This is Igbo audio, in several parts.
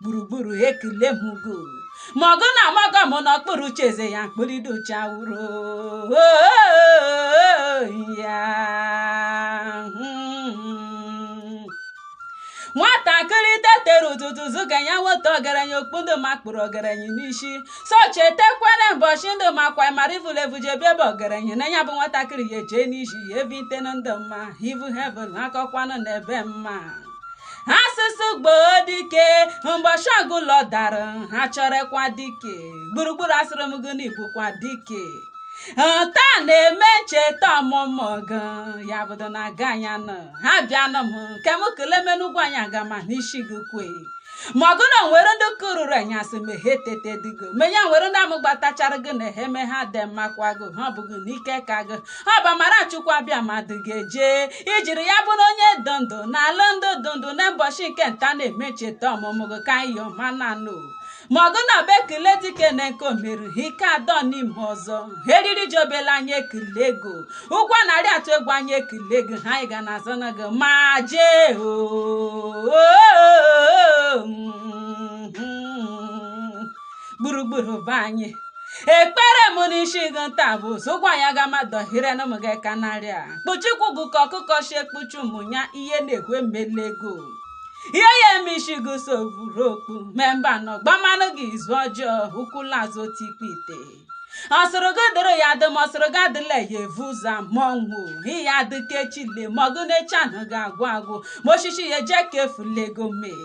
gburugburu ekele m gị o ma ọgụ na amaga m n'okpuru oche eze ya mkpụrịdo uche awụrụ ya nwatakịrị tetere ụtụtụ zụga ya nweta ọgaranya okpu ndụ makpuru ọgaranya n'isi so chetekwere mbọchị ndụ ma kwa mara ivulevu jebe ebe ọgaranya na ya bụ nwatakịrị ya eje n'isi ya ebi ite na ndụ mma ivu hevel akọkwanụ na ebe mma asụsụ gbuo dike mbọchị ọgụ ụlọ dara ha chọrọkwa dike gburugburu asịrị m gị na ị bụkwa dike nta na-eme ncheta ọmụmụ gị ya bụdo na aga anya nọ ha bịanụ m nke m kele menu Ugwuanyi aga ma n'isi gị kwe ma ọgụ na o nwere ndị kụrụrụ anyasị ma ha etete digo menye nwere ndị amụ gbatachara gị na ha eme ha dị mmakwa gị ha ọ bụghị n'ike ka gị ọ bụ amara Chukwu abịa mmadụ ga-eje ijiri ya bụrụ onye dị ndụ n'ala ndị dị ndụ na mbọchị nke nta na-eme ncheta ọmụmụ gị ka anyị ọma na nụ ma ọgụ na ọ bụ ekele dike na nke o meru ha ike adọ n'ime ọzọ ha eriri ji obele anyị ekele gị o ụgwọ narị atụ egwu anyị ekele gị o ha anyị ga na-azọ na gị ma jee oo gburugburu be anyị ekpere m n'isi gị nta bụ zụkwa ya ga mmadụ hire na ụmụ gị ka narị a kpuchikwu gị ka ọkụkọ si ekpuchi ụmụ ya ihe na-ekwe emele gị o ihe ya eme isi gị so buru okpu mee mba nọ gbamanụ gị izu ọjọọ ụkwụ la azụ otu ikpe ite ọ sịrị gị dịrị ya dị ma ọ sịrị gị adịla ya evu ụzọ mọ nwụ ị ya adị ka echi le ma ọgụ na echi anaghị agwụ agwụ ma osisi ya eje ka efulego mee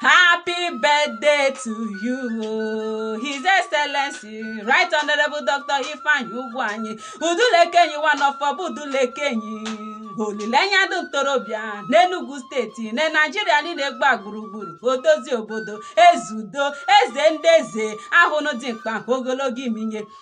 Happy birthday to you, His Excellency, Right Honorable Dr. Ifeanyi Ugwuanyi, Udulekenyi one of Orba Udulekenyi. Olileanya ndị ntorobịa n'Enugu steeti na Naijiria niile gba gburugburu odozi obodo eze udo eze ndị eze ahụnụ dimkpa ogologo imi nye